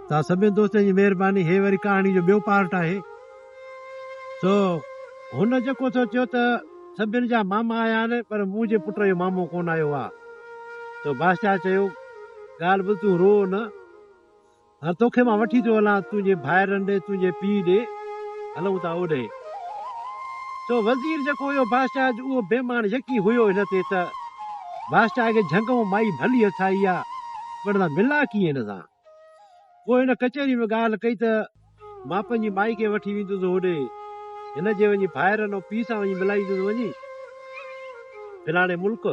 توهان سڀني دوستن جي مهرباني هي وري ڪهاڻي جو ٻيو پارٽ آهي سو هن جيڪو ٿو چيو ته سڀني جا ماما آيا آهن پر منهنجي پٽ جو مامو ڪونه آيو آ سو بادشاهه چيو ڳالهه ٻڌ تون رو نه هر توکي مان وٺي ٿو هلان تنهنجي ڀائرن ڏي تنهنجي پي ڏي هلون ٿا اوڏي سو وزير جيڪو هيو بادشاهه جو اهو بيمان يقين هيو هن تي ته بادشاهه کي جهنگ مائي ڀلي هٿ آئي آ پر ته ملان ڪيئن هن سان؟ پوء هن ڪچهري ۾ ڳالهه ڪئي ته، مان پنهنجي مائي کي وٺي ويندس هوڏي، هن جي وڃي ڀائرن ۽ پيء سان وڃي ملائيندس وڃي فلاڻي ملڪ.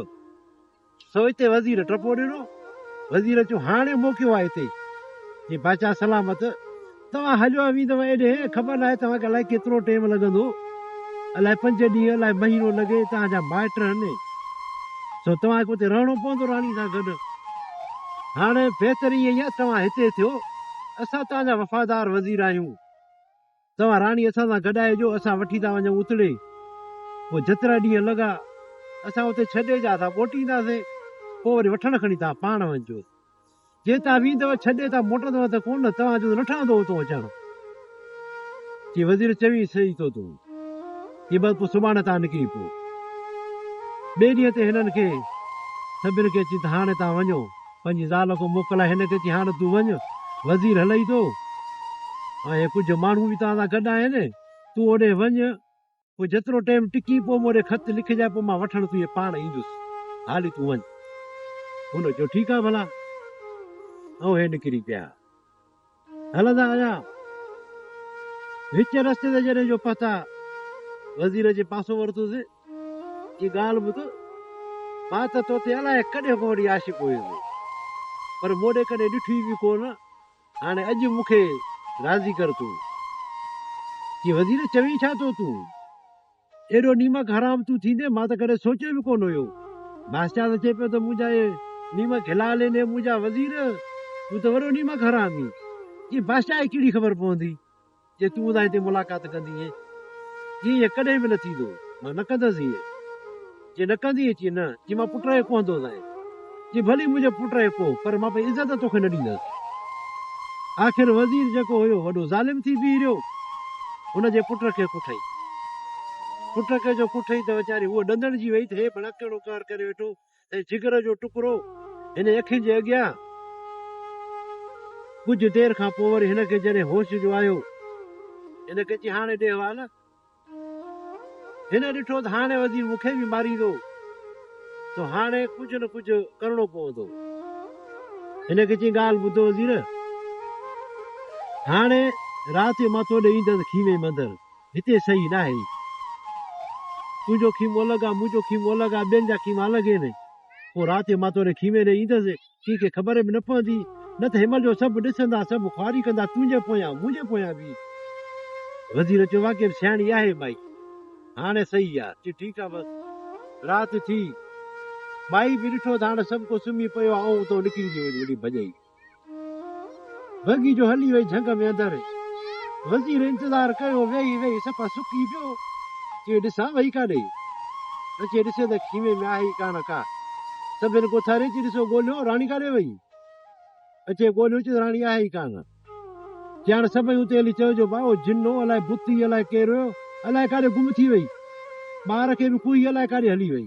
سو اتي وزير ٽپو ڏنو. وزير چيو، هاڻي موقعو آهي هتي جي باچا سلامت توهان هليو اوهين ته ايڏي، خبر ناهي توهان کي الائي ڪيترو ٽيم لڳندو، الائي پنج ڏينهن، الائي مهينو لڳي، توهان جا مائٽ هن، سو توهان کي اتي رهڻو پوندو راڻي سان گڏ. هاڻ بهتري اها ئي آهي توهان هتي ٿيو، اسان توهان جا وفادار وزير آهيون، توهان راڻي اسان سان گڏ آهي جو اسان وٺي ٿا وڃون اتڙي، پوء جيترا ڏينهن لڳا، اسان اتي ڇڏي جا اسان موٽينداسين، پوء وري وٺڻ کڻي توهان پاڻ وڃجوس. جي تان ويندؤ ڇڏي تان موٽندؤ ته ڪونه توهان جو نه ٺهندو اتون اچڻ جي وزير چوي سهي ٿو تون جي بس پو سڀاڻي تان نڪري پو ٻي ڏينهن تي هنن کي سڀن کي چي ته هاڻي تان وڃو پنهنجي زال کي موڪلائي هن کي چي هاڻي تون وڃ وزير هلئي ٿو ۽ ڪجهه ماڻهو به تان سان گڏ آهن تون اوڏي وڃ پوء جيترو ٽيم ٽڪي پوء مون ڏي خط لکجانء پوء مان وٺڻ تنهنجي پاڻ ايندس. هالي تون وڃ. هن چيو ٺيڪ آهي ڀلا. اوهين نڪري پيا. هلندا آيا. وچ رستي تي جڏهن جو پهتا وزير جي پاسو ورتوس چي ڳالهه ٻڌ مان ته توتي الائي ڪڏهن کان وٺي عاشق هيس پر مون ڏي ڪڏهن ڏٺو ئي به ڪونه. هاڻي اڄ مون کي راضي ڪر تون. چي وزير چوين ڇا ٿو تون؟ ايڏو نيمڪ حرام تون ٿيندين مان ته ڪڏهن سوچيو به ڪونه هيو. بادشاهه ته چئي پيو ته منهنجا اهي نيمڪ حلال آهن اي منهنجا وزير تون ته وڏو نيمڪ حرام هين. چي بادشاهه کي ڪهڙي خبر پوندي جي تون ادائين تي ملاقات ڪندينء جي ائين ڪڏهن به نه ٿيندو مان نه ڪندس ائين جي نه ڪندينء چي نه جي مان پٽ رهي ڪوهندوسانء جي ڀلي منهنجو پٽ رهي ڪوهه پر مان پنهنجي عزت توکي نه ڏيندس آخر وزير جيڪو هيو وڏو ظالم ٿي بيهي رهيو هن جي پٽ کي ڪٺئي پٽ کي جو ڪٺئي ته ويچاري هوء ڏندڻجي ويئي ته هي ڀلا ڪهڙو ڪار ڪري ويٺو ۽ جگر جو ٽڪرو هن اکين جي اڳيان. ڪجهه دير کان پوء وري هن کي جڏهن هوش جو آيو. هن ڪچي هاڻي ڏي حوال. هن ڏٺو ته هاڻي وزير مون کي به ماريندو، سو هاڻي ڪجهه نه ڪجهه ڪرڻو پوندو. هن ڪچي ڳالهه ٻڌو وزير، هاڻي رات جو مٿو ڏئي ايندس کيمي مندر. هتي صحيح ناهي. تنهنجو خيمو الڳ آ، منهنجو خيمو الڳ آ، ٻين جا خيما الڳ هين. پوء رات جو مان تنهنجي خيمي ڏي ايندس، ڪنهن کي خبر به نه پوندي، نه ته حمل جو سڀ ڏسندا، سڀ خواري ڪندا، تنهنجي پويان، منهنجي پويان به. وزير چيو، واقعي به سياڻي آهي مائي. هاڻ صحيح آ. چي، ٺيڪ آ بس. رات ٿي. مائي به ڏٺو ته هاڻ سڀ ڪو سمهي پيو آ، آئون اتان نڪري ٿي وڃان. وڏي ڀڄئي. بگي جو هلي وئي جهنگ ۾ اندر. وزير انتظار ڪيو ويهي ويهي صفا سڪي پيو چي ڏسان وئي ڪاڏي؟ اچي ڏسي ته خيمي ۾ آهي ئي ڪانه ڪا. سڀن کي اٿاري چي ڏسو ڳوليو راڻي ڪاڏي وئي؟ اچي ڳوليو چي ته راڻي آهي ئي ڪانه. جيان سڀئي اتي هلي چيو جو ڀائو جنو الائي بت ئي الائي ڪير هيو الائي ڪاڏي گم ٿي وئي. ٻار کي به کوهي الائي ڪاڏي هلي وئي.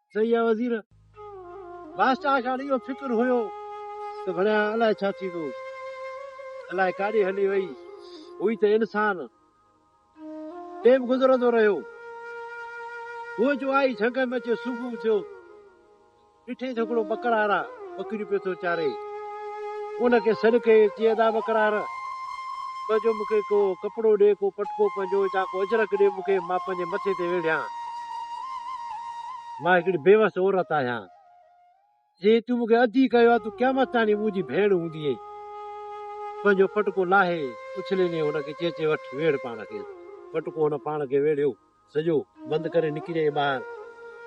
صحيح آ وزير. بادشاهه کي هاڻ اهو فڪر هيو ته ڀڻيا الائي ڇا ٿيندو. الائي ڪاڏي هلي وئي. هئي ته انسان. ٽيم گذرندو رهيو. هوء جو آئي جهنگ ۾ اچي صبح ٿيو. ڏٺينس هڪڙو ٻڪڙارا. ٻڪريون پيو ٿو چاري. ان کي سڏ ڪيو ۽ چيائين، ادا ٻڪرار! پنهنجو مون کي ڪو ڪپڙو ڏي، ڪو پٽڪو پنهنجو يا ڪو اجرڪ ڏي مون کي، مان پنهنجي مٿي تي ويڙهيان. مان هڪڙي بيوس عورت آهيان. جي تون مون کي ادي ڪيو ها، تون قيامت تاڻي مون جي ڀيڻ هوندينء. پنهنجو پٽڪو لاهي اڇلي ڏينهن هن کي چيچي وٺ، ويڙهه پاڻ کي. پٽڪو هن پاڻ کي ويڙهيو. سڄو بند ڪري نڪي جائين ٻاهر،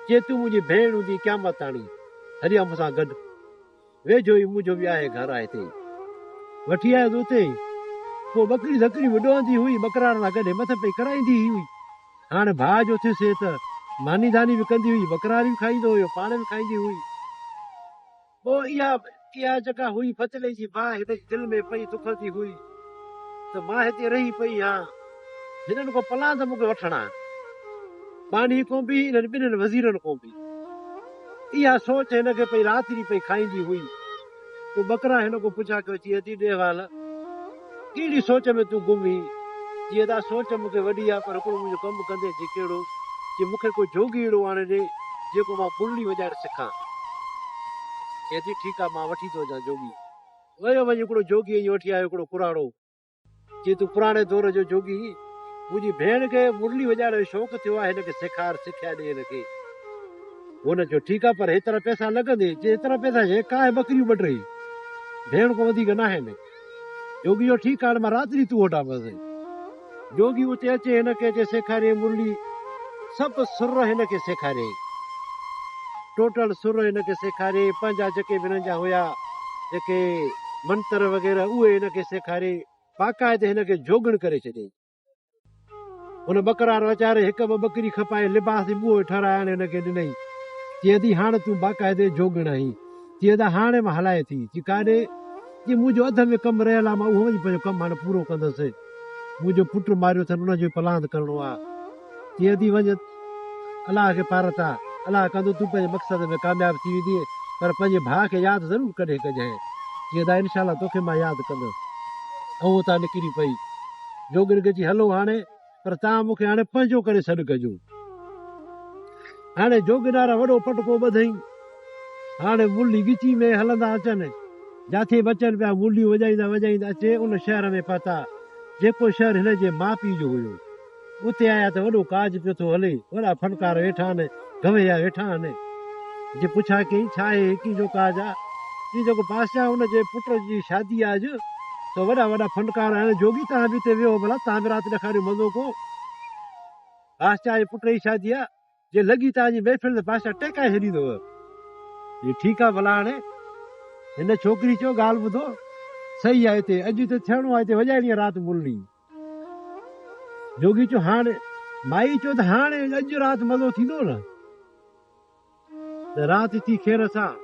جي تون منهنجي ڀيڻ هوندينء قيامت تاڻي هلي آ مون سان گڏ، ويجهو ئي منهنجو به آهي گهر آ هتي ئي. وٺي آيس اتي ئي، پوء ٻڪريون ذڪريون به ڏوهندي هئي، ٻڪرارن سان گڏ مٿن پئي ڪرائيندي ئي هئي. هاڻ ڀاء جو ٿيس هي ته ماني داني به ڪندي هئي، ٻڪراري به کائيندو هيو، پاڻ به کائيندي هئي. پوء اها اها جڳهه هئي فتلي جي باهه هن جي دل ۾ پئي دکندي هئي ته مان هتي رهي پئي هان هنن ڪو پلان ته مون کي وٺڻ آ ٻانهي ڪون به انهن ٻنهن وزيرن ڪون به اها سوچ هن کي پئي رات ڏينهن پئي کائيندي هئي پوء ٻڪرا هن ڪون پڇا ڪيو چي ادي ڏيهوال ڪهڙي سوچ ۾ تون گم هين؟ جي ادا سوچ مون کي وڏي آ پر هڪڙو منهنجو ڪم به ڪندين جي ڪهڙو؟ جي مون کي ڪو جوڳي اهڙو آڻي ڏي جيڪو مان پرلي وڄائڻ سکان. چئي ٿي ٺيڪ آ مان وٺي ٿو اچان جوڳي. ويو وڃ هڪڙو جوڳي ائين وٺي آيو هڪڙو ڪراڙو. چئي تون پراڻي دور جو جوڳي هين. منهنجي ڀيڻ کي مرلي وڄائڻ جو شوق ٿيو آ هن کي سيکار سکيا ڏي هن کي. هن چيو ٺيڪ آ پر هيترا پئسا لڳندين. چئي هيترا پئسا ڇا هي ڪاهي ٻڪريون ٻه ٽي ڀيڻ ڪو وڌيڪ ناهن. جوڳي جو ٺيڪ آڻ مان رات جي تو وٽان پسي. جوڳي اتي اچي هن کي اچي سيکاريائين مرلي سڀ سر هن کي سيکاريائين ٽوٽل سر هن کي سيکاريائين پنهنجا جيڪي به هنن جا هيا جيڪي منتر وغيره اهي هن کي سيکاريائين باقاعدي هن کي جوڳڻ ڪري ڇڏيائين. هن ٻڪرا رو اچاري هڪ ٻه ٻڪري کپائي لباس جي ٻوهه ٺهرائڻ هن کي ڏنائين. چي ادي هاڻ تون باقاعدي جوڳڻ آهين. چي ادا هاڻ مان هلائي ٿي. چي ڪاڏي؟ چي منهنجو اڌ ۾ ڪم رهيل آهي مان اهو وڃي پنهنجو ڪم هاڻ پورو ڪندس. منهنجو پٽ ماريو اٿن ان جو ئي پلاند ڪرڻو آهي. جيئن ٿي وڃ الله کي پارت آ الله ڪندو تون پنهنجي مقصد ۾ ڪامياب ٿي ويندينء پر پنهنجي ڀاء کي ياد ضرور ڪڏهن ڪجانء جيئن ته انشاء الله توکي مان ياد ڪندس اهو اتان نڪري پئي جوڳين کي چي هلو هاڻي پر تان مون کي هاڻي پنهنجو ڪري سڏ ڪجو هاڻي جوڳينار وڏو پٽڪو ٻڌئين هاڻي ملي ڳچي ۾ هلندا اچن جاٿي به اچن پيا مليون وڄائيندا وڄائيندا اچي ان شهر ۾ پهتا جيڪو شهر هن جي ماء پيء جو هيو اتي آيا ته وڏو ڪاڄ پيو ٿو هلي. وڏا ڦٽڪار ويٺا آهن، گويا ويٺا آهن. جي پڇا ڪيئي، ڇا هي ايڪي جو ڪاڄ آ؟ جي جيڪو بادشاهه ان جي پٽ جي شادي آ اڄ، سو وڏا وڏا ڦنڪار آهن. جوڳي توهان به اتي ويهو ڀلا، توهان به رات ڏکاريو مزو ڪو. بادشاهه جي پٽ جي شادي آ. جي لڳي تان جي محفل تي بادشاهه ٽهڪائي ڇڏيندو هو. جي ٺيڪ آ ڀلا هاڻي هن ڇوڪري چيو ڳالهه ٻڌو سهي آ هتي اڄ هتي ٿيڻو آ هتي وڄائڻي آ رات ملڻي. جوڳي چيو هاڻي مائي چيو ته هاڻي اڄ رات مزو ٿيندو نه ته رات ٿي خير سان.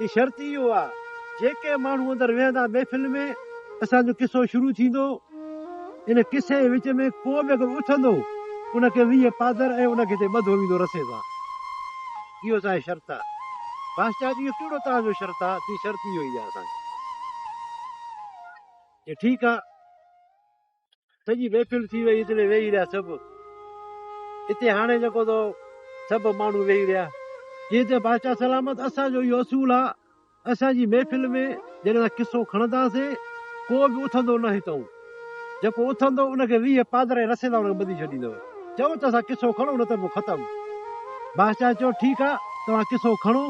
هي شرط اهو آ جيڪي ماڻهو اندر ويهندا محفل ۾ اسان جو قصو شروع ٿيندو ان قصي جي وچ ۾ ڪو به اگر اٿندو ان کي ويهه پادر ۽ ان کي تي ٻڌو ويندو رسي سان اهو اسان جي شرط آ باس چاچو اهو ڪهڙو توهان جو شرط آ چي شرط اهو ئي آ اسان جو چي ٺيڪ آ. سڄي محفل ٿي وئي اتي ويهي رهيا سڀ اتي هاڻي جيڪو تو سڀ ماڻهو ويهي رهيا جي ته بادشاهه سلامت اسان جو اهو اصول آ اسان جي محفل ۾ جڏهن اسان قصو کڻنداسين ڪو به اٿندو نه هتئون جيڪو اٿندو ان کي ويهه پادرائي رسيدا ان کي ٻڌي ڇڏيندو چيو ته اسان قصو کڻو نه ته پوء ختم. بادشاهه چيو ٺيڪ آ توهان قصو کڻو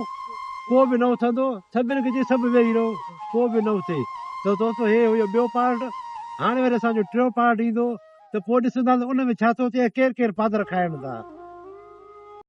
ڪو به نه اٿندو سڀن کي چئي سڀ ويهي رهو ڪو به نه اٿي ته دوستو هي هيو ٻيو پارٽ هاڻي وري اسان جو ٽيون پارٽ ايندو ته پوء ڏسنداسين ان ۾ ڇا ٿو ٿئي ۽ ڪير ڪير پادر کائن ٿا.